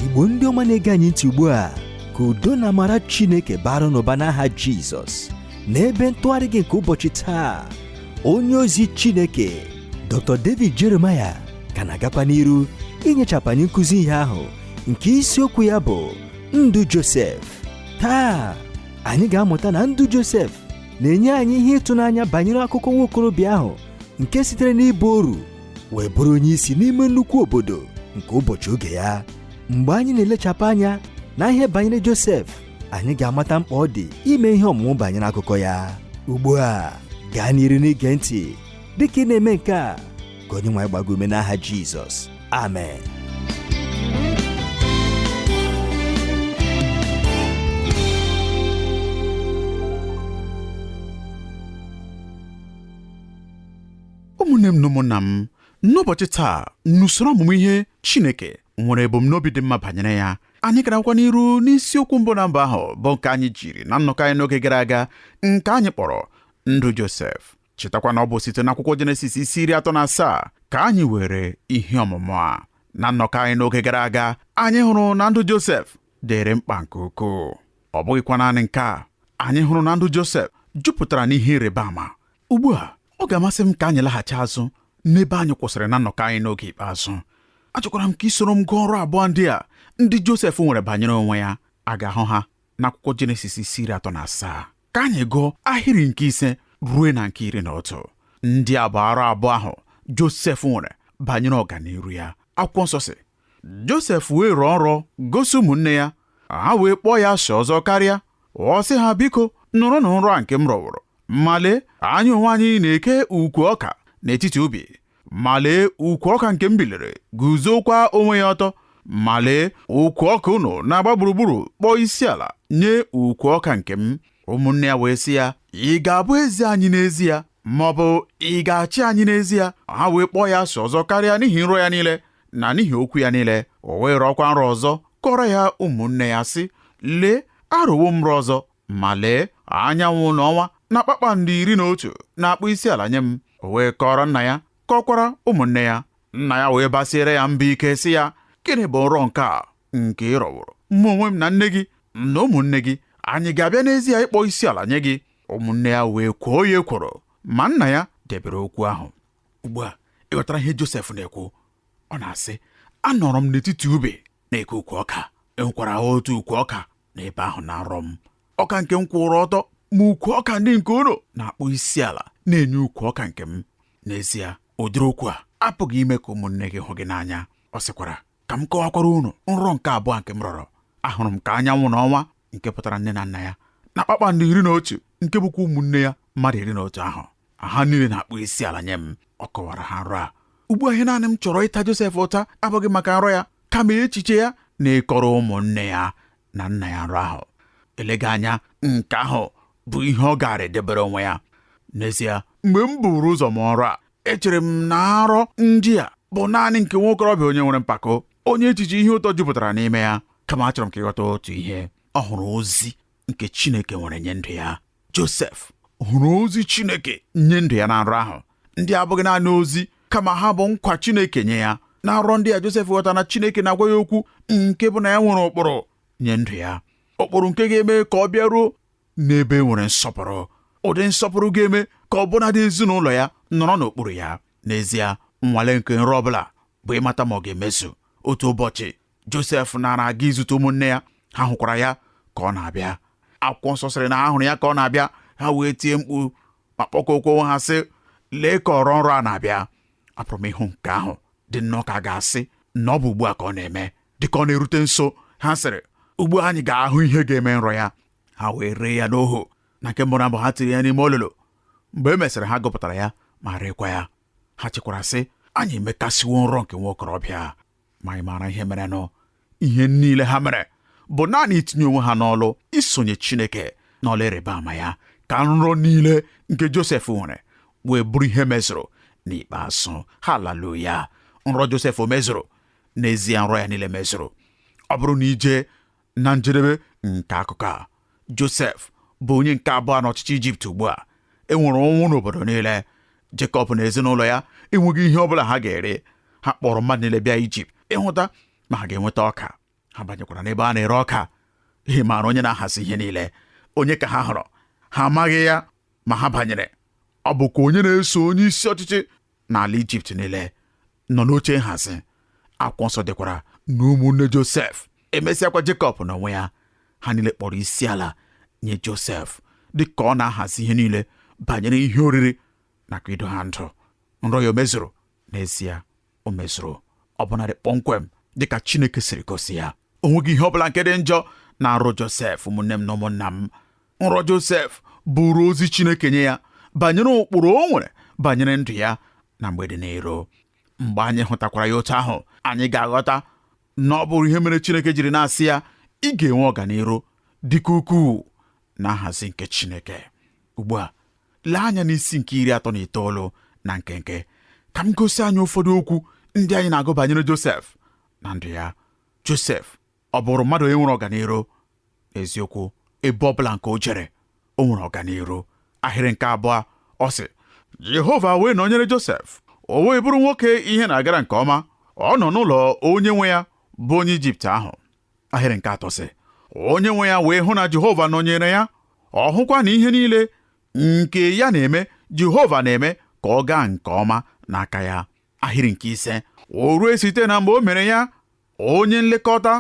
igbo ndị ọma na-ege anyị ntị ugbu a ka udo na amara chineke baara unu ụba n'aha jizọs n'ebe ntụgharị gị nke ụbọchị taa onye ozi chineke dr david jeremiah ka na-agakwa n'iru inyechapụ anyị nkụzi ihe ahụ nke isiokwu ya bụ ndụ josef taa anyị ga-amụta na ndụ josef na-enye anyị ihe ịtụnanya banyere akụkọ nwa okorobịa ahụ nke sitere n'ịbụ oru wee bụrụ onye isi n'ime nnukwu obodo nke ụbọchị oge ya mgbe anyị na-elechapụ anya na ihe banyere Josef anyị ga-amata mkpa ọ dị ime ihe ọmụmụ banyere akụkọ ya ugbu a gaa n'iru n'ige ntị dịka ị na-eme nke a ka onye nwe anyị gbaa gị ume n'aha Jizọs amen ụmụnne m na ụmụnna m n'ụbọchị taa n'usoro ọmụmụ ihe Chineke nwere ebumnobi dị mma banyere ya anyị ka na-agakwa n'iru n'isiokwu mbụ na mbụ ahụ bụ nke anyị jiri na nnọkọ anyị n'oge gara aga nke anyị kpọrọ ndụ Josef chetakwa na ọ bụ site n'akwụkwọ Jenesis isi iri atọ na asaa ka anyị weere ihe ọmụmụ a na nnọkọ anyị n'oge gara aga anyị hụrụ na ndụ Josef dịrị mkpa nke ukwuu ọ bụghịkwa naanị nke a anyị hụrụ na ndụ Josef jupụtara n'ihe ịrịba ama ugbu a ọ ga-amasị m ka anyị laghachi azụ n'ebe anyị kwụsịrị na nnọkọ anyị n'oge ikpeazụ achọkwara m ka i soro m gụọ nrọ abụọ ndị a ndị Josef nwere banyere onwe ya a ga-ahụ ha n'akwụkwọ Jenesis isi iri atọ na asaa ka anyị gụọ ahịrị nke ise ruo na nke iri na otu ndị a bụ nrọ abụọ ahụ Josef nwere banyere ọganiru ya akwụkwọ nsọ sị Josef wee rọọ nrọ gosi ụmụnne ya ha wee kpọọ ya asị ọzọ karịa ọ sị ha biko nụrụnụ nrọ a nke m rọworo ma lee anyị onwe anyị na-eke ukwu ọka n'etiti ubi ma lee ukwu ọka nke m biliri guzokwa onwe ya ọtọ ma lee ukwu ọka unu na-agba gburugburu kpọọ isi ala nye ukwu ọka nke m ụmụnne ya wee sị ya ị ga-abụ eze anyị n'ezie ma ọ bụ ị ga-achị anyị n'ezie ha wee kpọọ ya asị ọzọ karịa n'ihi nrọ ya niile na n'ihi okwu ya niile o wee rọọkwa nrọ ọzọ kọọrọ ya ụmụnne ya sị lee arọwo m nrọ ọzọ ma lee anyanwụ na ọnwa na kpakpando iri na otu na-akpọ isi ala nye m o wee kọọrọ nna ya kọkwara ụmụnne ya nna ya wee basiere ya mba ike sị ya gịnị bụ nrọ nke a nke ị rọworo mụ onwe m na nne gị na ụmụnne gị anyị ga-abịa n'ezie ịkpọ isi ala nye gị ụmụnne ya wee kwoo ya ekworo ma nna ya debere okwu ahụ ugbu a ịghọtara ihe Josef na-ekwu ọ na-asị anọrọ m n'etiti ubi na-eke ukwu ọka enwekwara otu ukwu ọka n'ebe ahụ na nrọ m ọka nke m kwụrụ ọtọ ma ukwu ọka ndị nke unu na-akpọ isi ala na-enye ukwu ọka nke m n'ezie ụdịrị okwu a apụghị ime ka ụmụnne gị hụ gị n'anya ọ sịkwara ka m kọwakwara unu nrọ nke abụọ nke m rọrọ ahụrụ m ka anyanwụ na ọnwa nke pụtara nne na nna ya na kpakpando iri na otu nke bụkwa ụmụnne ya mmadụ iri na otu ahụ ha niile na-akpọ isi ala nye m ọ kọwara ha nrọ a ugbu a ihe naanị m chọrọ ịta Josef ụta abụghị maka nrọ ya kama echiche ya na ịkọrọ ụmụnne ya na nna ya nrọ ahụ elega anya nke ahụ bụ ihe ọ gaara edebere onwe ya n'ezie mgbe m buru ụzọ mụọ nrọ a echere m na nrọ ndị a bụ naanị nke nwa okorobịa onye nwere mpako onye echiche ihe ụtọ jupụtara n'ime ya kama achọrọ m ka ị ghọta otu ihe ọ hụrụ ozi nke Chineke nwere nye ndụ ya Josef hụrụ ozi Chineke nye ndụ ya na nrọ ahụ ndị a abụghị naanị ozi kama ha bụ nkwa Chineke nye ya na nrọ ndị a Josef ghọtara na Chineke na-agwa ya okwu nke bụ na ya nwere ụkpụrụ nye ndụ ya ụkpụrụ nke ga-eme ka ọ bịaruo n'ebe e nwere nsọpụrụ ụdị nsọpụrụ ga-eme ka ọbụnadị ezinụlọ ya nọrọ n'okpuru ya n'ezie nnwale nke nrọ ọbụla bụ ịmata ma ọ ga-emezu otu ụbọchị josef nara aga izute ụmụnne ya ha hụkwara ya ka ọ na-abịa akwụkwọ nsọ sịrị na ha hụrụ ya ka ọ na-abịa ha wee tie mkpu ma kpọkọọkwa onwe ha sị lee ka ọrọ nrọ a na-abịa apụrụ m ịhụ nke ahụ dị nnọọ ka a ga-asị na ọ bụ ugbu a ka ọ na-eme dịka ọ na-erute nso ha sịrị ugbu a anyị ga-ahụ ihe ga-eme nrọ ya ha wee ree ya n'ohu na nke mbụ na mbụ ha tiri ya n'ime olulu mgbe e mesịrị ha gupụtara ya ma reekwa ya ha chekwara sị anyị emekasịwo nrọ nke nwa okorobịa ma anyị maara ihe merenụ ihe niile ha mere bụ naanị itinye onwe ha n'ọlụ isonye Chineke n'ọlụ ịrịba ama ya ka nrọ niile nke Josef nwere wee bụrụ ihe mezuru n'ikpeazụ haleluya nrọ Josef o mezuru n'ezie nrọ ya niile mezuru ọ bụrụ na i jee Na njedebe nke akụkọ a, Josef bụ onye nke abụọ n'ọchịchị Ijipt ugbu a. E nwere ụnwụ n'obodo niile. Jekọb na ezinụlọ ya enweghị ihe ọ bụla ha ga-eri. Ha kpọrọ mmadụ niile bịa Ijipt ịhụta ma ha ga-enweta ọka. Ha banyekwara n'ebe a na-ere ọka. Ị maara onye na-ahazi ihe niile. Onye ka ha hụrụ? Ha amaghị ya ma ha banyere. Ọ bụkwa onye na-eso onye isi ọchịchị n'ala Ijipt niile nọ n'oche nhazi akwụkwọ nsọ sịkwara na ụmụnne Josef emesịakwa Jekọb n'onwe ya ha niile kpọrọ isi ala nye Josef dị ka ọ na-ahazi ihe niile banyere ihe oriri nakwa ido ha ndụ nrọ ya o mezuru n'ezie o mezuru ọbụnadị kpọmkwem dịka Chineke siri gosi ya o nweghị ihe ọ bụla nke dị njọ na nrọ Josef ụmụnne m na ụmụnna m nrọ Josef bụrụ ozi Chineke nye ya banyere ụkpụrụ o nwere banyere ndụ ya na mgbe dị n'iro mgbe anyị hụtakwara ya otu ahụ anyị ga-aghọta na ọ bụrụ ihe mere Chineke jiri na-asị ya ị ga-enwe ọganiru dịka ukwuu na nhazi nke Chineke ugbu a lee anya n'isi nke iri atọ na itoolu na nkenke ka m gosi anyị ụfọdụ okwu ndị anyị na-agụ banyere Josef na ndụ ya Josef ọ bụrụ mmadụ onye nwere ọganiru eziokwu ebe ọ bụla nke o jere o nwere ọganiru ahịrị nke abụọ ọ sị Jehova wee nọnyere Josef o wee bụrụ nwoke ihe na-agara nke ọma ọ nọ n'ụlọ onye nwe ya bụ onye Ijipt ahụ ahịrị nke atọ sị onye nwe ya wee hụ na Jehova nọnyere ya ọ hụkwa na ihe niile nke ya na-eme Jehova na-eme ka ọ gaa nke ọma n'aka ya ahịrị nke ise o rue site na mgbe o mere ya onye nlekọta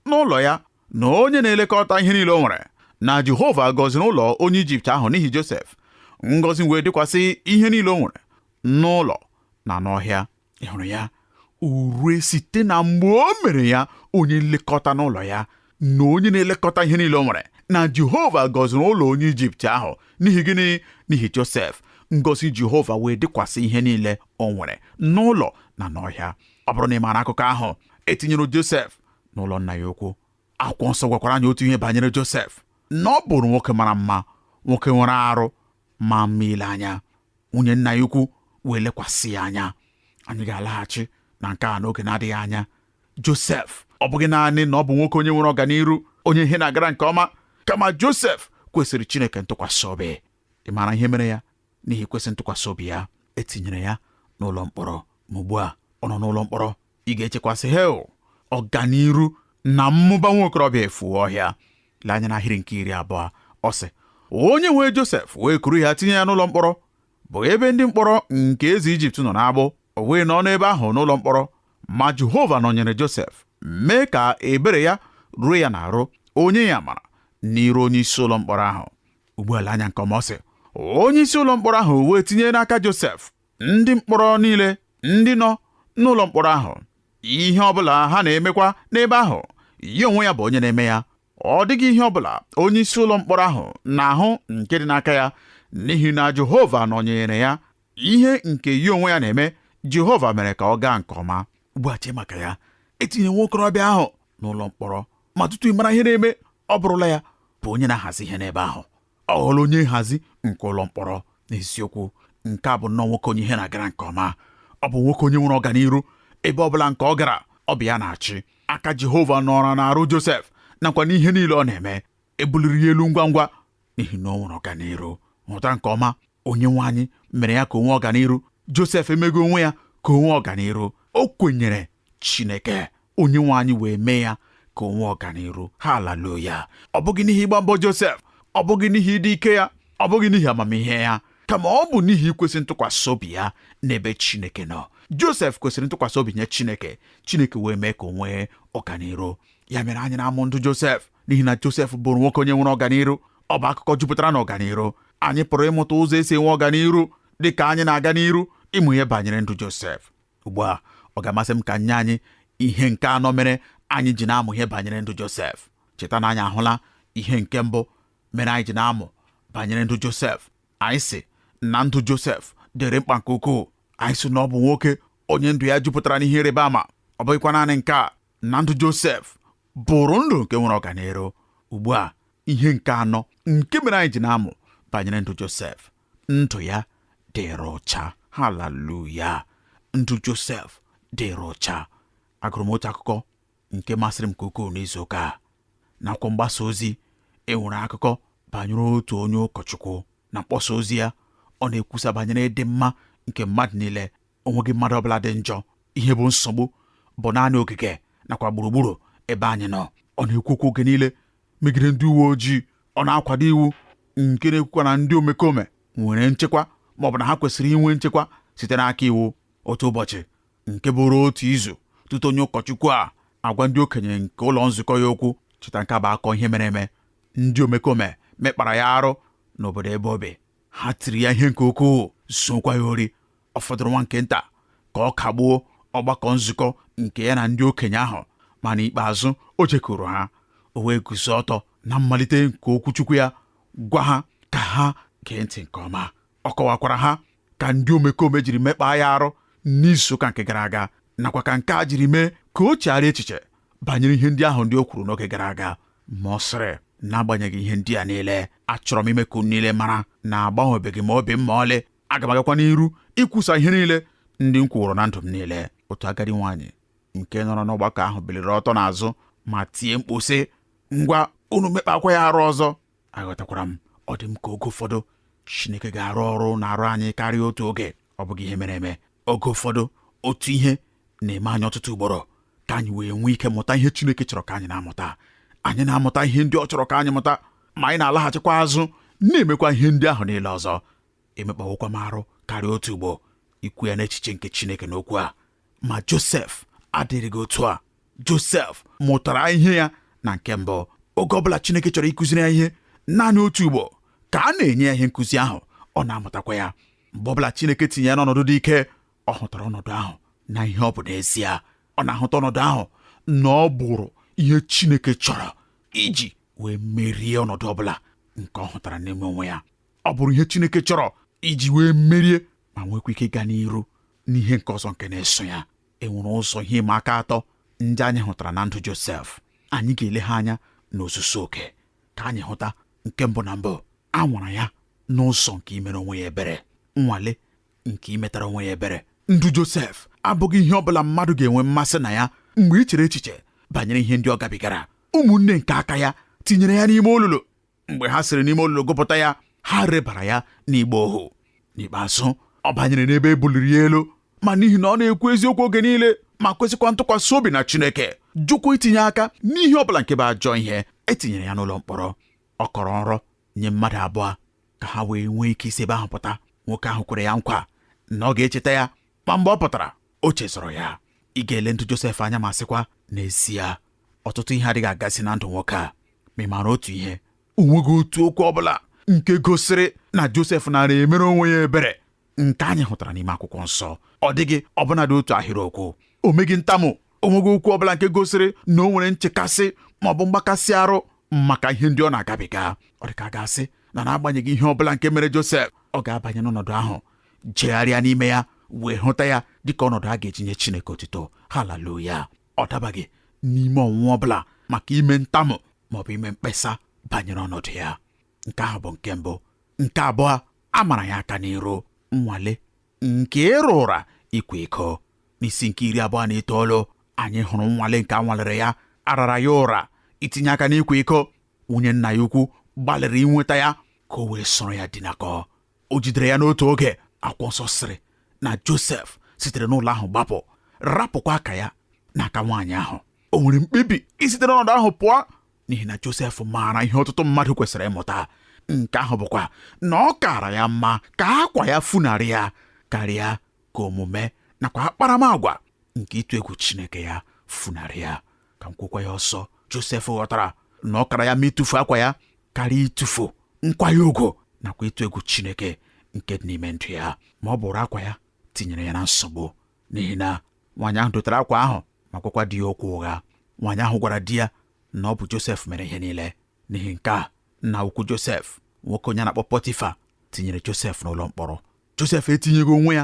n'ụlọ ya na onye na-elekọta ihe niile o nwere na Jehova gọziri ụlọ onye Ijipt ahụ n'ihi Josef ngọzi wee dịkwasị ihe niile o nwere n'ụlọ na n'ọhịa ị hụrụ ya o rue site na mgbe o mere ya onye nlekọta n'ụlọ ya na onye na-elekọta ihe niile o nwere na Jehova gọziri ụlọ onye Ijipt ahụ n'ihi gịnị n'ihi Josef ngọzi Jehova wee dịkwasị ihe niile o nwere n'ụlọ na n'ọhịa ọ bụrụ na ị maara akụkọ ahụ e tinyere Josef n'ụlọ nna ya ukwu akwụkwọ nsọ gwakwara anyị otu ihe banyere Josef na ọ bụrụ nwoke mara mma nwoke nwere arụ ma mma ile anya nwunye nna ya ukwu wee lekwasị ya anya anyị ga-alaghachi na nke a n'oge na-adịghị anya Josef ọ bụghị naanị na ọ bụ nwoke onye nwere ọganiru onye ihe na-agara nke ọma kama Josef kwesịrị Chineke ntụkwasị obi ị maara ihe mere ya n'ihi ikwesị ntụkwasị obi ya e tinyere ya n'ụlọ mkpọrọ ma ugbu a ọ nọ n'ụlọ mkpọrọ ị ga-echekwa sị hei ọganiru na mmụba nwa okorobịa efue ọhịa lee anya n'ahịrị nke iri abụọ ọ sị onye nwe Josef wee kuru ya tinye ya n'ụlọ mkpọrọ bụ ebe ndị mkpọrọ nke eze Ijipt nọ n'agbụ o wee nọ n'ebe ahụ n'ụlọ mkpọrọ ma Jehova nọnyere Josef mee ka ebere ya ruo ya n'arụ o nye ya amara n'iru onye isi ụlọ mkpọrọ ahụ ugbu a lee anya nke ọma ọ sị onye isi ụlọ mkpọrọ ahụ wee tinye n'aka Josef ndị mkpọrọ niile ndị nọ n'ụlọ mkpọrọ ahụ ihe ọ bụla ha na-emekwa n'ebe ahụ ya onwe ya bụ onye na-eme ya ọ dịghị ihe ọ bụla onye isi ụlọ mkpọrọ ahụ na-ahụ nke dị n'aka ya n'ihi na Jehova nọnyere ya ihe nke ya onwe ya na-eme Jehova mere ka ọ gaa nke ọma ugbu a chee maka ya etinye nwa okorobịa ahụ n'ụlọ mkpọrọ ma tutu ị mara ihe na-eme ọ bụrụla ya bụ onye na-ahazi ihe n'ebe ahụ ọ ghọrọ onye nhazi nke ụlọ mkpọrọ n'eziokwu nke a bụ nnọọ nwoke onye ihe na-agara nke ọma ọ bụ nwoke onye nwere ọganiru ebe ọ bụla nke ọ gara ọ bụ ya na-achị aka Jehova nọrọ n'arụ Josef nakwa n'ihe niile ọ na-eme ebuliri ya elu ngwa ngwa n'ihi na o nwere ọganiru hụta nke ọma onye nwe anyị mere ya ka o nwee ọganiru josef emeghị onwe ya ka o nwee ọganiru o kwenyere chineke onye nwe anyị wee mee ya ka o nwee ọganiru haleluya ọ bụghị n'ihi ịgba mbọ josef ọ bụghị n'ihi ịdị ike ya ọ bụghị n'ihi amamihe ya kama ọ bụ n'ihi ikwesị ntụkwasị obi ya n'ebe chineke nọ josef kwesịrị ntụkwasị obi nye chineke chineke wee mee ka o nwee ọganiru ya mere anyị na-amụ ndụ josef n'ihi na josef bụrụ nwoke onye nwere ọganiru ọ bụ akụkọ jupụtara n'ọganiru anyị pụrụ ịmụta ụzọ esi enwe ọganiru dị ka anyị na-aga n'iru ịmụ ihe banyere ndụ Josef ugbu a ọ ga-amasị m ka m nye anyị ihe nke anọ mere anyị ji na-amụ ihe banyere ndụ Josef cheta na anyị ahụla ihe nke mbụ mere anyị ji na-amụ banyere ndụ Josef anyị sị na ndụ Josef dịrị mkpa nke ukwuu anyị sị na ọ bụ nwoke onye ndụ ya jupụtara n'ihe ịrịba ama ọ bụghịkwa naanị nke a na ndụ Josef bụrụ ndụ nke nwere ọganiru ugbu a ihe nke anọ nke mere anyị ji na-amụ banyere ndụ Josef ndụ ya dịrị ọcha haleluya ndụ Josef dịrị ọcha agụrụ m otu akụkọ nke masịrị m nke ukwuu n'izu ụka a n'akwụkwọ mgbasa ozi enwere akụkọ banyere otu onye ụkọchukwu na mkpọsa ozi ya ọ na-ekwusa banyere ịdị mma nke mmadụ niile o nweghị mmadụ ọbụla dị njọ ihe bụ nsogbu bụ naanị ogige nakwa gburugburu ebe anyị nọ ọ na-ekwu okwu oge niile megide ndị uwe ojii ọ na-akwado iwu nke na-ekwukwa na ndị omekome nwere nchekwa ma ọ bụ na ha kwesịrị inwe nchekwa site n'aka iwu otu ụbọchị nke bụrụ otu izu tutu onye ụkọchukwu a agwa ndị okenye nke ụlọ nzukọ ya okwu cheta nke a bụ akụkọ ihe mere eme ndị omekome mekpara ya arụ n'obodo ebe o bi ha tiri ya ihe nke ukwuu zuokwa ya ori ọ fọdụrụ nwa nke nta ka ọ kagbuo ọgbakọ nzukọ nke ya na ndị okenye ahụ ma n'ikpeazụ o jekuru ha o wee guzo ọtọ na mmalite nke okwuchukwu ya gwa ha ka ha gee ntị nke ọma ọ kọwakwara ha ka ndị omekome jiri mekpaa ya arụ n'izuụka nke gara aga nakwa ka nke a jiri mee ka o chegharịa echiche banyere ihe ndị ahụ ndị o kwuru n'oge gara aga ma ọ sịrị n'agbanyeghị ihe ndị a niile achọrọ m ime ka unu niile mara na agbanwebeghị m obi m ma ọlị aga m agakwa n'iru ikwusa ihe niile ndị m kwuworo na ndụ m niile otu agadi nwaanyị nke nọrọ n'ọgbakọ ahụ biliri ọtọ n'azụ ma tie mkpu sị ngwa unu mekpakwa ya arụ ọzọ aghọtakwara m ọ dị m ka oge ụfọdụ Chineke ga-arụ ọrụ n'arụ anyị karịa otu oge ọ bụghị ihe mere eme oge ụfọdụ otu ihe na-eme anyị ọtụtụ ugboro ka anyị wee nwee ike mụta ihe Chineke chọrọ ka anyị na-amụta anyị na-amụta ihe ndị ọ chọrọ ka anyị mụta ma anyị na-alaghachikwa azụ na-emekwa ihe ndị ahụ niile ọzọ emekpawokwa m arụ karịa otu ugbo ikwu ya n'echiche nke Chineke n'okwu a ma Josef adịrịghị otu a Josef mụtara ihe ya na nke mbụ oge ọ bụla Chineke chọrọ ịkụziri ya ihe naanị otu ugbo ka a na-enye ya ihe nkụzi ahụ ọ na-amụtakwa ya mgbe ọ bụla Chineke tinye ya n'ọnọdụ dị ike ọ hụtara ọnọdụ ahụ na ihe ọ bụ n'ezie ọ na-ahụta ọnọdụ ahụ na ọ bụrụ ihe Chineke chọrọ iji wee merie ọnọdụ ọbụla nke ọ hụtara n'ime onwe ya ọ bụrụ ihe Chineke chọrọ iji wee merie ma nwekwa ike gaa n'iru n'ihe nke ọzọ nke na-eso ya enwere ụzọ ihe ịma aka atọ ndị anyị hụtara na ndụ Josef anyị ga-ele ha anya n'ozuzu oke ka anyị hụta nke mbụ na mbụ a nwara ya n'ụzọ nke imere onwe ya ebere nnwale nke imetara onwe ya ebere ndụ Josef abụghị ihe ọ bụla mmadụ ga-enwe mmasị na ya mgbe i chere echiche banyere ihe ndị ọ gabigara ụmụnne nke aka ya tinyere ya n'ime olulu mgbe ha siri n'ime olulu gụpụta ya ha rebara ya n'ịgba ohu n'ikpeazụ ọ banyere n'ebe e buliri ya elu ma n'ihi na ọ na-ekwu eziokwu oge niile ma kwesịkwa ntụkwasị obi na Chineke jụkwa itinye aka n'ihe ọ bụla nke bụ ajọ ihe e tinyere ya n'ụlọ mkpọrọ ọ kọrọ nrọ nye mmadụ abụọ ka ha wee nwee ike isi ebe ahụ pụta nwoke ahụ kwere ya nkwa na ọ ga-echeta ya ma mgbe ọ pụtara o chezọrọ ya ị ga-ele ndụ Josef anya ma sịkwa n'ezie ọtụtụ ihe adịghị agazi na ndụ nwoke a ma ị maara otu ihe o nweghị otu okwu ọ bụla nke gosiri na Josef nara emere onwe ya ebere nke anyị hụtara n'ime akwụkwọ nsọ ọ dịghị ọbụnadị otu ahịrịokwu o meghị ntamu o nweghị okwu ọbụla nke gosiri na o nwere nchekasị ma ọ bụ mgbakasị arụ maka ihe ndị ọ na-agabiga ọ dị ka a ga-asị na n'agbanyeghị ihe ọbụla nke mere Josef ọ ga-abanye n'ọnọdụ ahụ jegharịa n'ime ya wee hụta ya dịka ọnọdụ a ga-eji nye Chineke otuto haleluya ọ dabaghị n'ime ọnwụnwa ọbụla maka ime ntamu ma ọ bụ ime mkpesa banyere ọnọdụ ya nke ahụ bụ nke mbụ nke abụọ a mara ya aka n'iru nnwale nke ịra ụra ịkwa iko n'isi nke iri abụọ na itoolu anyị hụrụ nnwale nke a nwalere ya a rara ya ụra itinye aka n'ịkwa iko nwunye nna ya ukwu gbalịrị inweta ya ka o wee soro ya dinakọ o jidere ya n'otu oge akwụkwọ nsọ sịrị na Josef sitere n'ụlọ ahụ gbapụ rapụkwa akwa ya n'aka nwaanyị ahụ o nwere mkpebi isite n'ọnọdụ ahụ pụọ n'ihi na Josef maara ihe ọtụtụ mmadụ kwesịrị ịmụta nke ahụ bụkwa na ọ kaara ya mma ka akwa ya funarị ya karịa ka omume nakwa akparamagwa nke ịtụ egwu Chineke ya funarị ya ka m kwukwa ya ọzọ Josef ghọtara na ọ kaara ya mma ịtụfu akwa ya karịa ịtụfu nkwanye ugwu nakwa ịtụ egwu Chineke nke dị n'ime ndụ ya ma ọ bụrụ akwa ya tinyere ya na nsogbu n'ihi na nwaanyị ahụ dotere akwa ahụ ma gwakwa di ya okwu ụgha nwaanyị ahụ gwara di ya na ọ bụ Josef mere ihe niile n'ihi nke a nna ukwu Josef nwoke onye a na-akpọ Pọtifa tinyere Josef n'ụlọ mkpọrọ Josef etinyeghị onwe ya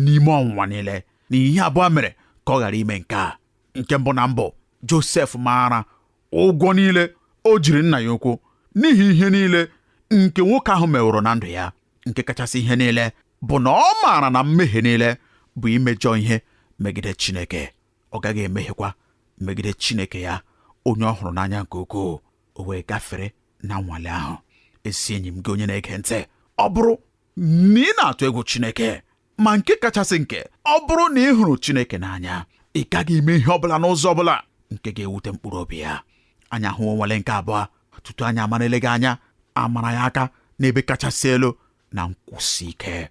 n'ime ọnwụnwa niile n'ihi ihe abụọ mere ka ọ ghara ime nke a nke mbụ na mbụ Josef maara ụgwọ niile o jiri nna ya ukwu n'ihi ihe niile nke nwoke ahụ meworo na ndụ ya nke kachasị ihe niile bụ na ọ maara na mmehie niile bụ imejọ ihe megide Chineke ọ gaghị emehiekwa megide Chineke ya onye ọ hụrụ n'anya nke ukwuu o wee gafere na nnwale ahụ ezi enyi m gị onye na-ege ntị ọ bụrụ na ị na-atụ egwu Chineke ma nke kachasị nke ọ bụrụ na ị hụrụ Chineke n'anya ị gaghị eme ihe ọ bụla n'ụzọ ọ bụla nke ga-ewute mkpụrụ obi ya anyị ahụwo nnwale nke abụọ tutu anyị amara eleghị anya a mara ya aka n'ebe kachasị elu na nkwụsị ike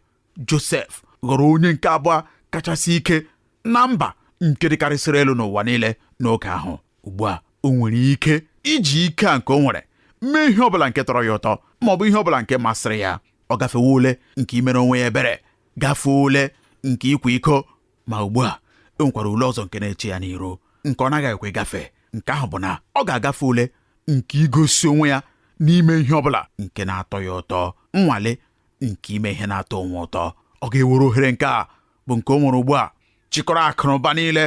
Josef ghọrọ onye nke abụọ kachasị ike na mba nke dịkarịsịrị elu n'ụwa niile n'oge ahụ ugbu a o nwere ike iji ike a nke o nwere mee ihe ọbụla nke tọrọ ya ụtọ ma ọ bụ ihe ọbụla nke masịrị ya ọ gafewo ule nke imere onwe ya ebere gafee ule nke ịkwa iko ma ugbu a e nwekwara ule ọzọ nke na-eche ya n'iru nke ọ na-aghaghịkwa ịgafe nke ahụ bụ na ọ ga-agafe ule nke igosi onwe ya n'ime ihe ọ bụla nke na-atọ ya ụtọ nnwale nke ime ihe na-atọ onwe ụtọ ọ ga-ewere ohere nke a bụ nke o nwere ugbu a chịkọrọ akụnụba niile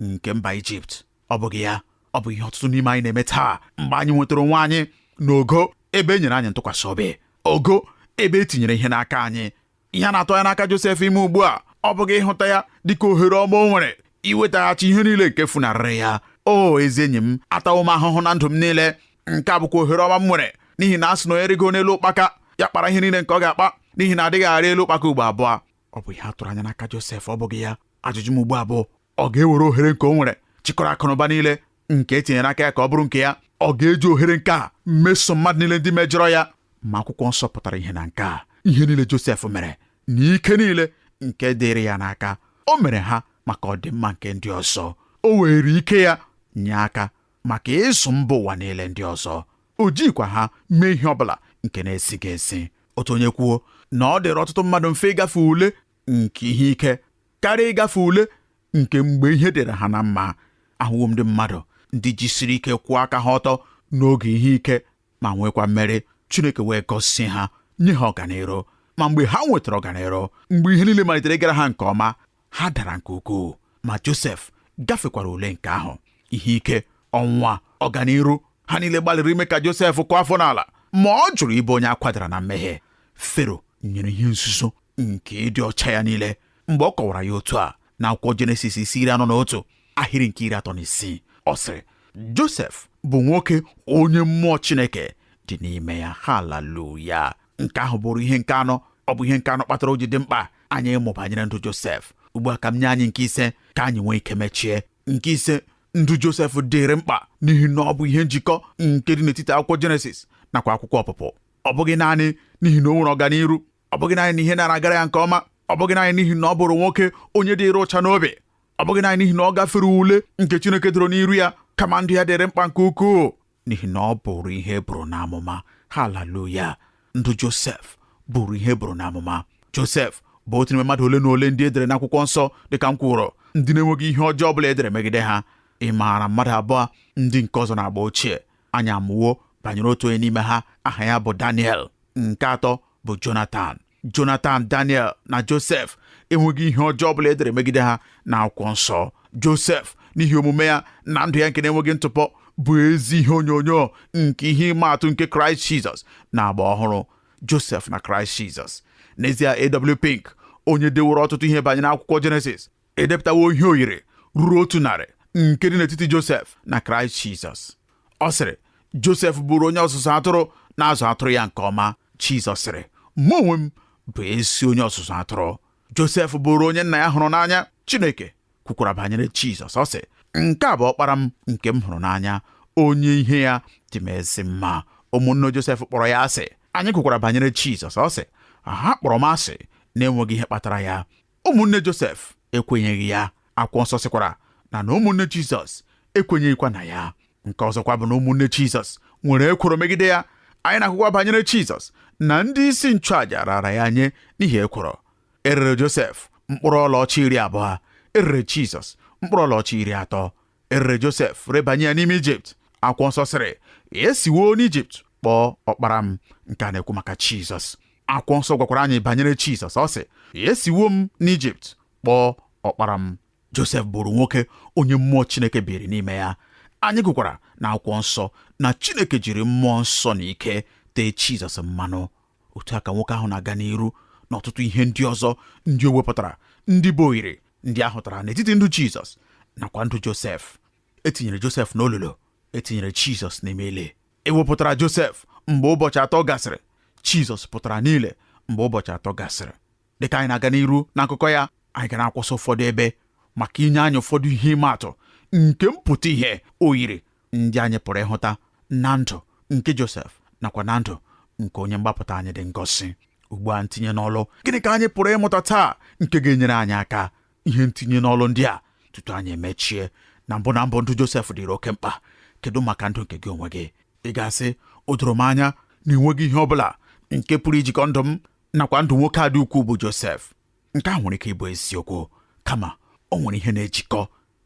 nke mba Ijipt ọ bụghị ya ọ bụ ihe ọtụtụ n'ime anyị na-eme taa mgbe anyị nwetara onwe anyị n'ogo ebe e nyere anyị ntụkwasị obi ogo ebe e tinyere ihe n'aka anyị ihe a na-atụ anya n'aka Josef ime ugbu a ọ bụghị ịhụta ya dịka ohere ọma o nwere iwetaghachi ihe niile nke funarịrị ya o ezi enyi m atawo m ahụhụ na ndụ m niile nke a bụkwa ohere ọma m nwere n'ihi na a sị na onye rịgo n'elu ụkpaka ya kpara ihe niile nke ọ ga-akpa n'ihi na a dịghị arị elu ụkpaka ugbo abụọ ọ bụ ihe a tụrụ anya n'aka Josef ọ bụghị ya ajụjụ m ugbu a bụ ọ ga-ewere ohere nke o nwere chịkọrọ akụnụba niile nke e tinyere n'aka ya ka ọ bụrụ nke ya ọ ga-eji ohere nke a meso mmadụ niile ndị mejọrọ ya ma akwụkwọ nsọ pụtara ihe na nke a ihe niile Josef mere na ike niile nke dịrị ya n'aka o mere ha maka ọdịmma nke ndị ọzọ o weere ike ya nye aka maka ịzụ mba ụwa niile ndị ọzọ o jikwa ha mee ihe ọ bụla nke na-ezighị ezi otu onye kwuo na ọ dịrị ọtụtụ mmadụ mfe ịgafe ule nke ihe ike karịa ịgafe ule nke mgbe ihe dịrị ha na mma ahụwo m ndị mmadụ ndị jisiri ike kwụọ aka ha ọtọ n'oge ihe ike ma nwekwa mmeri Chineke wee gọzie ha nye ha ọganiru ma mgbe ha nwetara ọganiru mgbe ihe niile malitere ịgara ha nke ọma ha dara nke ukwuu ma Josef gafekwara ule nke ahụ ihe ike ọnwụnwa ọganiru ha niile gbalịrị ime ka Josef kụọ afọ n'ala ma ọ jụrụ ịbụ onye a kwadara na mmehie Fero nyere ihe nzuzo nke ịdị ọcha ya niile mgbe ọ kọwara ya otu a n'akwụkwọ jenesis isi iri anọ na otu ahịrị nke iri atọ na isii ọ sịrị Josef bụ nwoke onye mmụọ Chineke dị n'ime ya haleluya nke ahụ bụrụ ihe nke anọ ọ bụ ihe nke anọ kpatara o ji dị mkpa anyị ịmụ banyere ndụ Josef ugbu a ka m nye anyị nke ise ka anyị nwee ike mechie nke ise ndụ Josef dịrị mkpa n'ihi na ọ bụ ihe njikọ nke dị n'etiti akwụkwọ Jenesis nakwa akwụkwọ ọpụpụ ọ bụghị naanị n'ihi na o nwere ọganiru ọ bụghị naanị na ihe na-agara ya nke ọma ọ bụghị naanị n'ihi na ọ bụrụ nwoke onye dịrị ụcha n'obi ọ bụghị naanị n'ihi na ọ gafere ule nke Chineke doro n'iru ya kama ndụ ya dịrị mkpa nke ukwuu n'ihi na ọ bụrụ ihe e buru n'amụma haleluya ndụ Josef bụrụ ihe e buru n'amụma Josef bụ otu n'ime mmadụ ole na ole ndị e dere n'akwụkwọ nsọ dịka m kwuru ndị na-enweghị ihe ọjọọ ọ bụla e dere megide ha ị maara mmadụ abụọ ndị nke ọzọ n'agba ochie anyị amụwo banyere otu onye n'ime ha aha ya bụ Daniel nke atọ bụ Jonatan Jonatan Daniel na Josef enweghị ihe ọjọọ ọ bụla e dere megide ha n'akwụkwọ nsọ Josef n'ihi omume ya na ndụ ya nke na-enweghị ntụpọ bụ ezi ihe onyonyo nke ihe ịma atụ nke Kraịst Jizọs n'agba ọhụrụ Josef na Kraịst Jizọs n'ezie AW Pink onye deworo ọtụtụ ihe banyere akwụkwọ Jenesis edepụtawo ihe oyiri ruru otu narị nke dị n'etiti Josef na Kraịst Jizọs ọ sịrị Josef bụrụ onye ọzụzụ atụrụ na-azụ atụrụ ya nke ọma Jizọs sịrị mụ onwe m bụ ezi onye ọzụzụ atụrụ Josef bụrụ onye nna ya hụrụ n'anya Chineke kwukwara banyere Jizọs ọ sị nke a bụ ọkpara m nke m hụrụ n'anya onye ihe ya dị m ezi mma ụmụnne Josef kpọrọ ya asị anyị gụkwara banyere Jizọs ọ sị ha kpọrọ m asị na-enweghị ihe kpatara ya ụmụnne Josef ekwenyeghị ya akwụkwọ nsọ sịkwara na na ụmụnne Jizọs ekwenyeghịkwa na ya nke ọzọkwa bụ na ụmụnne Jizọs nwere ekworo megide ya anyị na-agụkwa banyere Jizọs na ndị isi nchụàja raara ya nye n'ihi ekworo e rere Josef mkpụrụ ọlaọcha iri abụọ e rere Jizọs mkpụrụ ọlaọcha iri atọ erere Josef rebanye ya n'ime Ijipt akwụkwọ nsọ sịrị esiwo n'Ijipt kpọọ ọkpara m nke a na-ekwu maka Jizọs akwụkwọ nsọ gwakwara anyị banyere Jizọs ọ sị esiwo m n'Ijipt kpọọ ọkpara m Josef bụrụ nwoke onye mmụọ Chineke biri n'ime ya anyị gụkwara na akwụkwọ nsọ na Chineke jiri mmụọ nsọ na ike tee Jizọs mmanụ otu a ka nwoke ahụ na-aga n'iru na ọtụtụ ihe ndị ọzọ ndị o wepụtara ndị bụ oyiri ndị a hụtara n'etiti ndụ Jizọs nakwa ndụ Josef etinyere Josef n'olulu etinyere Jizọs n'ime ili ewepụtara Josef mgbe ụbọchị atọ gasịrị Jizọs pụtara n'ili mgbe ụbọchị atọ gasịrị dịka anyị na-aga n'iru n'akụkọ ya anyị ga na-akwụsị ụfọdụ ebe maka inye anyị ụfọdụ ihe ịma atụ nke mpụta ihe oyiri ndị anyị pụrụ ịhụta na ndụ nke Josef nakwa na ndụ nke onye mgbapụta anyị dị ngọzi ugbu a ntinye n'ọlụ gịnị ka anyị pụrụ ịmụta taa nke ga-enyere anyị aka ihe ntinye n'ọlụ ndị a tutu anyị emechie na mbụ na mbụ ndụ Josef dịrị oke mkpa kedu maka ndụ nke gị onwe gị ị ga-asị o doro m anya na enweghị ihe ọ bụla nke pụrụ ijikọ ndụ m nakwa ndụ nwoke a dị ukwuu bụ Josef nke a nwere ike ịbụ eziokwu kama o nwere ihe na-ejikọ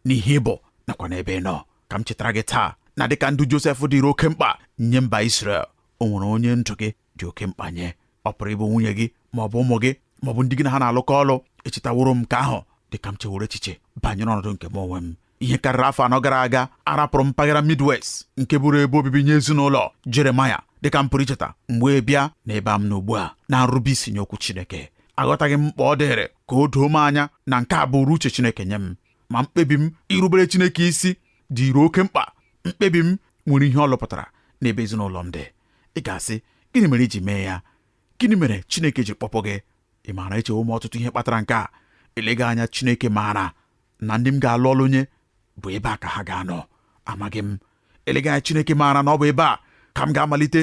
n'ihe ị bụ nakwa n'ebe ị nọ ka m chetara gị taa na dịka ndụ Josef dịrị oke mkpa nye mba Israel o nwere onye ndụ gị dị oke mkpa nye ọ pụrụ ịbụ nwunye gị ma ọ bụ ụmụ gị ma ọ bụ ndị gị na ha na-alụkọ ọlụ echetaworo m nke ahụ dịka m chewere echiche banyere ọnọdụ nke m onwe m ihe karịrị afọ anọ gara aga arapụrụ m mpaghara Midwest nke bụrụ ebe obibi nye ezinụlọ Jeremaya dịka m pụrụ icheta m wee bịa na ebe m nọ ugbu a na nrube isi nye okwu Chineke aghọtaghị m mkpa ọ dịrị ka o doo m anya na nke a bụrụ uche Chineke nye m ma mkpebi m irubere Chineke isi dịrị oke mkpa mkpebi m nwere ihe ọ lụpụtara n'ebe ezinụlọ m dị ị ga-asị gịnị mere i ji mee ya gịnị mere Chineke ji kpọpụ gị ị maara echewo m ọtụtụ ihe kpatara nke a eleghị anya Chineke maara na ndị m ga-alụ ọlụ nye bụ ebe a ka ha ga-anọ amaghị m eleghị anya Chineke maara na ọ bụ ebe a ka m ga-amalite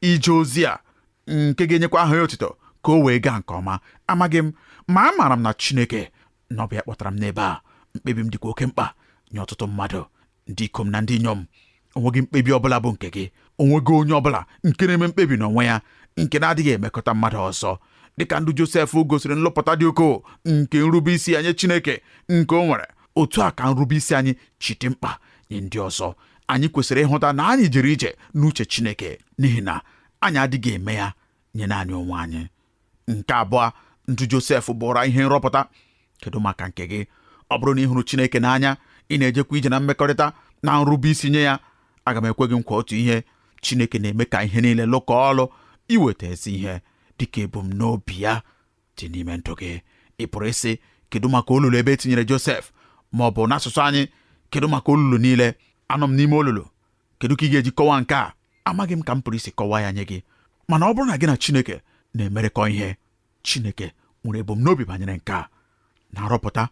ije ozi a nke ga-enyekwa aha ya otito ka o wee gaa nke ọma amaghị m ma amaara m na Chineke na ọ bụ ya kpọtara m n'ebe a mkpebi m dịkwa oke mkpa nye ọtụtụ mmadụ ndị ikom na ndị inyom onweghị mkpebi ọbụla bụ nke gị onweghị onye ọbụla nke na-eme mkpebi n'onwe ya nke na-adịghị emekụta mmadụ ọzọ dịka ndụ Josef gosiri nlụpụta dị ukwuu nke nrube isi nye Chineke nke o nwere otu a ka nrube isi anyị si dị mkpa nye ndị ọzọ anyị kwesịrị ịhụta na anyị jere ije n'uche Chineke n'ihi na anyị adịghị eme ya nye naanị onwe anyị nke abụọ ndụ Josef bụụrụ ihe nrọpụta kedu maka nke gị ọ bụrụ na ị hụrụ Chineke n'anya ị na-ejekwa ije na mmekọrịta na nrube isi nye ya aga m ekwe gị nkwa otu ihe Chineke na-eme ka ihe niile lụkọọ ọlụ iweta ezi ihe dịka ebumnobi ya dị n'ime ndụ gị ị pụrụ ịsị kedu maka olulu ebe e tinyere Josef ma ọ bụ n'asụsụ anyị kedu maka olulu niile anọ m n'ime olulu kedu ka ị ga-eji kọwaa nke a amaghị m ka m pụrụ isi kọwaa ya nye gị mana ọ bụrụ na gị na Chineke na-emerekọ ihe Chineke nwere ebumnobi banyere nke a na nrọpụta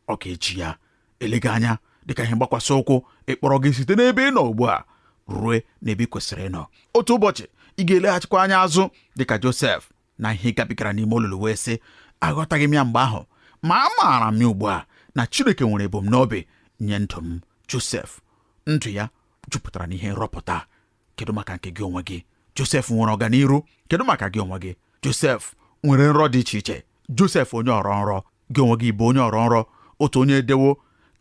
ọ ga-eji ya eleghị anya dịka ihe mgbakwasị ụkwụ ịkpọrọ gị site n'ebe ị nọ ugbu a rue n'ebe ị kwesịrị ịnọ otu ụbọchị ị ga-eleghachikwa anya azụ dịka Josef na ihe gabigara n'ime olulu wee sị aghọtaghị m ya mgbe ahụ ma amaara m ya ugbu a na Chineke nwere ebumnobi nye ndụ m Josef ndụ ya jupụtara n'ihe nrọpụta kedu maka nke gị onwe gị Josef nwere ọganiru kedu maka gị onwe gị Josef nwere nrọ dị iche iche Josef onye ọrọ nrọ gị onwe gị ị bụ onye ọrọ nrọ otu onye edewo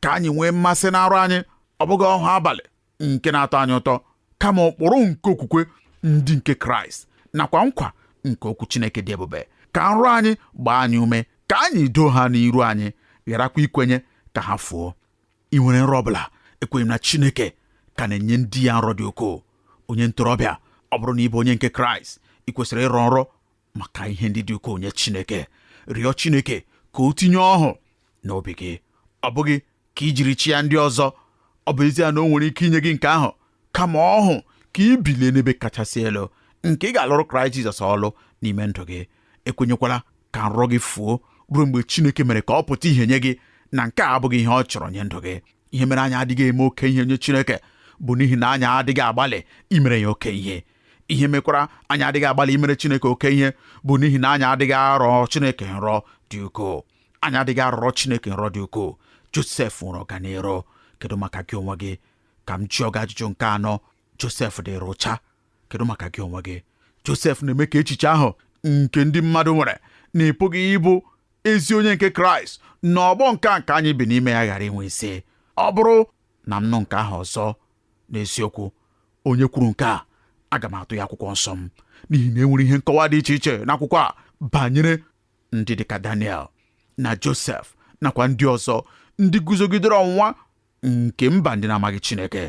ka anyị nwee mmasị na nrọ anyị ọ bụghị ọhụụ abalị nke na-atọ anyị ụtọ kama ụkpụrụ nke okwukwe ndị nke kraịst nakwa nkwa nke okwu chineke dị ebube ka nrọ anyị gbaa anyị ume ka anyị doo ha n'iru anyị gharakwa ikwenye ka ha fuo ị nwere nrọ ọbụla ekwenye m na chineke ka na-enye ndị ya nrọ dị ukwuu onye ntorobịa ọ bụrụ na ị bụ onye nke kraịst ị kwesịrị ịrọ nrọ maka ihe ndị dị ukwuu nye Chineke rịọ Chineke ka o tinye ọhụụ n'obi gị ọ bụghị ka i jiri chịa ndị ọzọ ọ bụ ezie na o nwere ike inye gị nke ahụ kama ọhụụ ka i bilie n'ebe kachasị elu nke ị ga-alụrụ Kraịst Jizọs ọlụ n'ime ndụ gị ekwenyekwala ka nrọ gị fuo ruo mgbe Chineke mere ka ọ pụta ihe nye gị na nke a abụghị ihe ọ chọrọ nye ndụ gị ihe mere anyị adịghị eme oke ihe nye Chineke bụ n'ihi na anyị adịghị agbalị imere ya oke ihe ihe mekwara anyị adịghị agbalị imere Chineke oke ihe bụ n'ihi na anyị adịghị arọ Chineke nrọ dị ukwuu anyị adịghị arọrọ Chineke nrọ dị ukwuu Josef nwere ọganiru kedu maka gị onwe gị ka m jụọ gị ajụjụ nke anọ Josef dịrị ụcha kedu maka gị onwe gị Josef na-eme ka echiche ahụ nke ndị mmadụ nwere na ị pụghị ịbụ ezi onye nke Kraịst na ọgbọ nke a nke anyị bi n'ime ya ghara inwe isi ọ bụrụ na m nụ nke ahụ ọzọ N'eziokwu, onye kwuru nke a aga m atụ ya akwụkwọ nsọ m n'ihi na enwere ihe nkọwa dị iche iche n'akwụkwọ a banyere ndị dịka Daniel na Josef nakwa ndị ọzọ ndị guzogidere ọnwụnwa nke mba ndị na-amaghị Chineke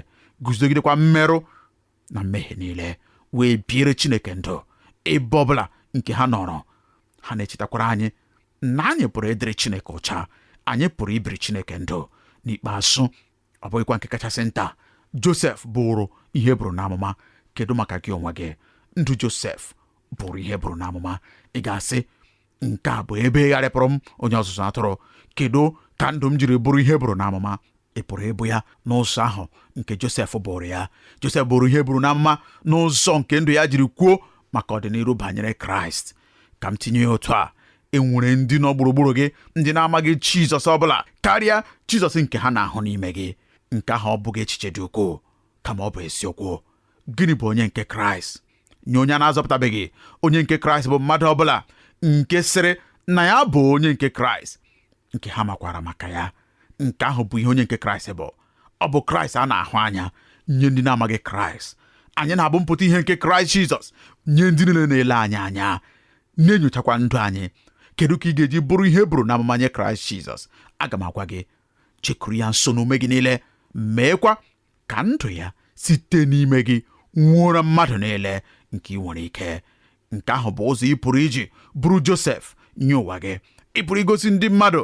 guzogidekwa mmerụ na mmehie niile wee biere Chineke ndụ ebe ọbụla nke ha nọrọ ha na-echetakwara anyị na anyị pụrụ ịdịrị Chineke ụcha anyị pụrụ ibiri Chineke ndụ n'ikpeazụ ọ bụghịkwa nke kachasị nta Josef bụrụ ihe buru n'amụma kedu maka gị onwe gị ndụ Josef bụrụ ihe buru n'amụma ị ga-asị nke a bụ ebe gharịpụrụ m onye ọzụzụ atụrụ kedu ka ndụ m jiri bụrụ ihe buru n'amụma ị pụrụ ịbụ ya n'ụzọ ahụ nke Josef bụrụ ya Josef bụrụ ihe buru n'amụma n'ụzọ nke ndụ ya jiri kwuo maka ọdịniru banyere Kraịst ka m tinye ya otu a e nwere ndị nọ gburugburu gị ndị na-amaghị Jizọs ọ bụla karịa Jizọs nke ha na-ahụ n'ime gị nke ahụ ọ bụghị echiche dị ukwuu kama ọ bụ eziokwu gịnị bụ onye nke Kraịst nye onye a na-azọpụtabeghị onye nke Kraịst bụ mmadụ ọ bụla nke sịrị na ya bụ onye nke Kraịst nke ha makwara maka ya nke ahụ bụ ihe onye nke Kraịst bụ ọ bụ Kraịst a na-ahụ anya nye ndị na-amaghị Kraịst anyị na-abụ mpụta ihe nke Kraịst Jizọs nye ndị niile na-ele anyị anya na-enyochakwa ndụ anyị kedu ka ị ga-eji bụrụ ihe buru n'amụma nye kraịst jizọs aga m agwa gị jekuru ya nso n'ume gị niile meekwa ka ndụ ya site n'ime gị nwuoro mmadụ niile nke ị nwere ike nke ahụ bụ ụzọ ị pụrụ iji bụrụ josef nye ụwa gị ị pụrụ igosi ndị mmadụ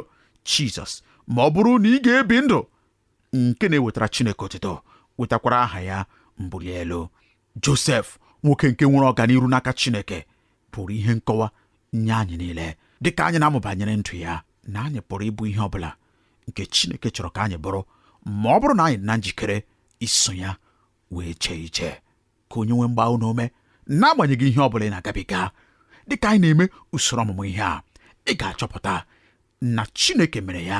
jizọs ma ọ bụrụ na ị ga-ebi ndụ nke na-ewetara chineke otito wetakwara aha ya mbuli elu Josef nwoke nke nwere ọganiru n'aka Chineke bụrụ ihe nkọwa nye anyị niile dị ka anyị na-amụ banyere ndụ ya na anyị pụrụ ịbụ ihe ọ bụla nke Chineke chọrọ ka anyị bụrụ ma ọ bụrụ na anyị dị na njikere iso ya wee jee ije ka onye nwe m gbaa unu ume n'agbanyeghị ihe ọ bụla ị na-agabiga dị ka anyị na-eme usoro ọmụmụ ihe a ị ga-achọpụta na Chineke mere ya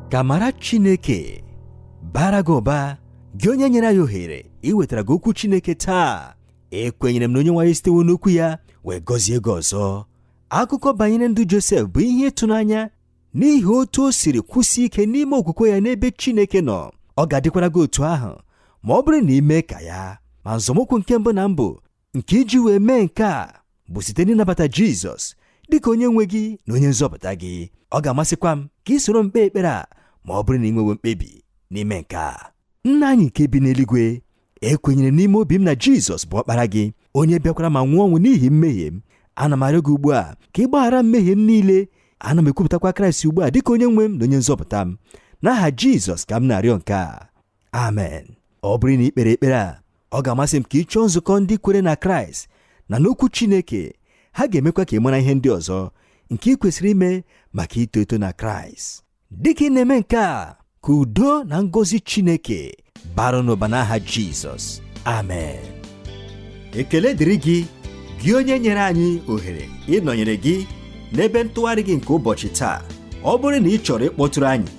ka amara chineke bara gị ụba gị onye nyere anyị ohere iwetara gị okwu chineke taa ekwenyere m na onye nwe anyị sitewo n'okwu ya wee gọzie gị ọzọ akụkọ banyere ndụ josef bụ ihe ịtụnanya n'ihi otu o siri kwụsie ike n'ime okwukwe ya n'ebe chineke nọ ọ ga-adịkwara gị otu ahụ ma ọ bụrụ na ị mee ka ya ma nzọmụkwụ nke mbụ na mbụ nke iji wee mee nke a bụ site n'ịnabata jizọs dị ka onye nwe gị na onye nzọpụta gị ọ ga-amasịkwa m ka ị soro m kpee ekpere a ma ọ bụrụ na ị nwewe mkpebi n'ime nke a nna anyị nke bi n'eluigwe ekwenyere n'ime obi m na jizọs bụ ọkpara gị onye bịakwara ma nwụọ ọnwụ n'ihi mmehie m ana m arịọ gị ugbu a ka ị gbaghara mmehie m niile ana m ekwupụtakwa kraịst ugbu a dịka onye nwe m na onye nzọpụta m n'aha jizọs ka m na-arịọ nke a amen ọ bụrụ na i kpere ekpere a ọ ga-amasị m ka ị chọọ nzukọ ndị kwere na kraịst na n'okwu chineke ha ga-emekwa ka ị mara ihe ndị ọzọ nke ị kwesịrị ime maka ito eto na kraịst dịka ị na-eme nke a ka udo na ngọzi chineke bara n'ụba n'aha jizọs amen ekele dịrị gị gị onye nyere anyị ohere ịnọnyere gị n'ebe ntụgharị gị nke ụbọchị taa ọ bụrụ na ị chọrọ ịkpọtụrụ anyị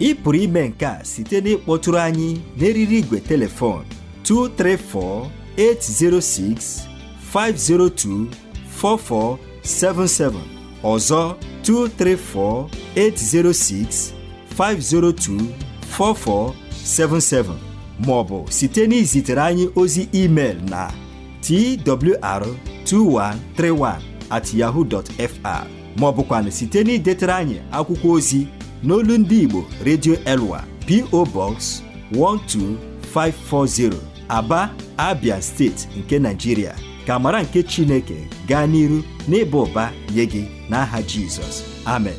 ị pụrụ ime nke a site n'ịkpọtụrụ anyị n'eriri igwe telefon 234-806-502-4477 ọzọ 234-806-502-4477 maọbụ site n'izitere anyị ozi email na twr2131 at yahoo dot fr maọbụkwanụ site n'idetere anyị akwụkwọ ozi n'olu ndị Igbo Radio Elwa PO Box 12540 Aba, Abia steeti nke Naijiria ka amara nke Chineke gaa n'iru n'ịba ụba nye gị n'aha Jizọs amen